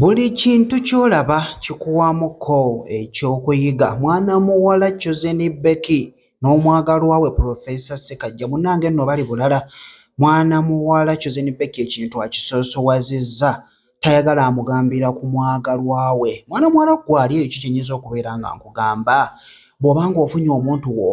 Buli kintu ky'olaba kikuwaamu ko eky'okuyiga. Mwana muwala Chosen Becky n'omwagalwa we Professor Ssekajja munnange nno bali bulala. Mwana muwala Chosen Becky ekintu akisoosowazizza tayagala amugambira ku mwagalwa we. Mwana muwala ggwe ali eyo ki kye nnyinza okubeera nga nkugamba? Bw'oba ng'ofunye omuntu wo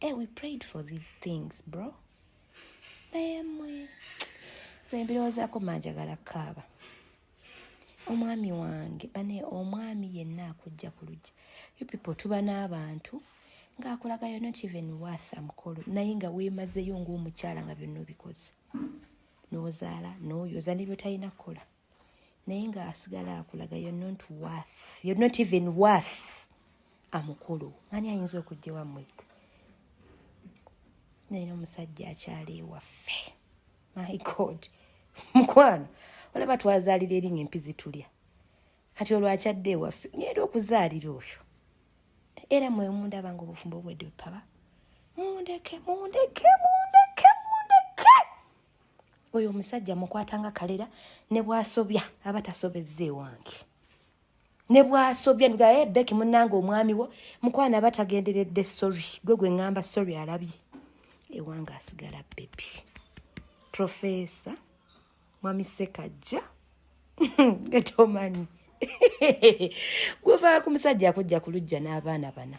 Hey, eh, we prayed for these things bro naye mwe nze ebirowoozaako manjagala kaaba omwami wange bane omwami yenna akujja ku lujja you people tuba n'abantu ng'akulagayo not even worth amukolo naye nga weemazeyo ng'omukyala nga byonna obikoze n'ozaala n'oyoza ne byotalina kukola naye nga asigala akulaga you're not worth you're not even worth amukulu ani ayinza okujja wamwe naye nomusajja akyali ewaffe my god mukwano olaba twazaalira eringa empi zitulya kati olwakyadde ewaffe nyeera okuzaalira oyo era mwe mundaba nga obufumbo obwedde bupaba mundeke mundeke mundeke mundeke oyo omusajja mukwata nga kalera ne bwasobya aba tasobezza ewange ne bwasobya nga e eh, beki munange omwami wo mukwana aba tagenderedde sorry gwe gwe ngamba sorry alabye ewange asigala bebi profesa mwami sekajja getomanyi guvaku musajja akujja kulujja n'abaana bana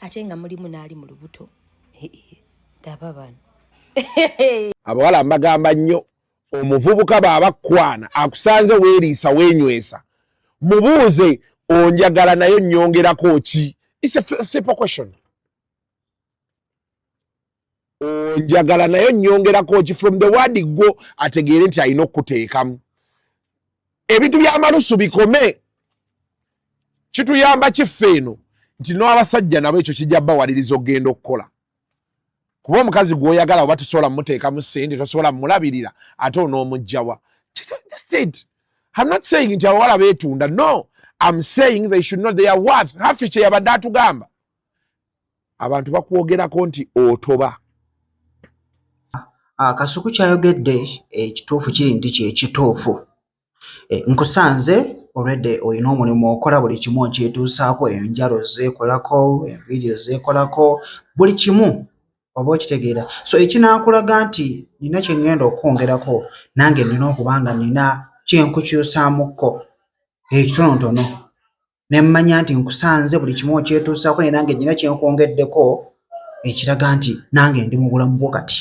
ate nga mulimu n'ali mu lubuto daba bano abawala mbagamba nnyo omuvubuka baabakwana akusanze weeriisa weenywesa mubuuze onjagala naye nyongerako ki onjagala naye onyongerako ki from the word gwo ategeere nti alina okukuteekamu ebintu byamalusu bikome kituyamba kiffe eno nti n'abasajja nabo ekyo kijja bawaliriza okugenda okukola kuba omukazi gwoyagala oba tosobola mumuteekamu sente tosobola mumulabirira ate onoomugjawa nti abawala betunda no am saying they should not they are worth hafi kyeyabadde atugamba abantu bakwogerako nti otoba ah, kasuku kyayogedde ekituufu kiri nti kyekituufu eh, nkusanze olwedde olina omulimu okola buli kimu okyetuusaako enjalo zeekolako envidiyo zeekolako buli kimu oba okitegeera so ekinaakulaga nti nina kye ŋŋenda okwongerako nange nina okuba nga nina kyenkukyusaamukko ekitonotono ne mmanya nti nkusanze buli kimu okyetuusaako naye nange nnina kye nkwongeddeko ekiraga nti nange ndi mu bulamu bwo kati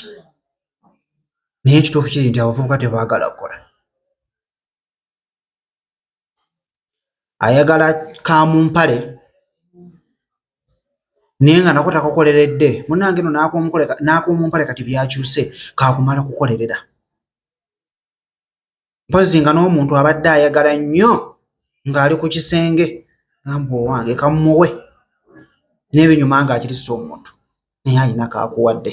naye ekituufu kiri nti abavubuka tebaagala kukola ayagala ka mu mpale naye nga nako takukoleredde munange no n'ak'omumpale kati byakyuse kaakumala kukolerera mpozi nga n'omuntu abadde ayagala nnyo ng'ali ku kisenge gamba owange kamumuwe n'ebinyuma ng'akirisa omuntu naye alina kaakuwadde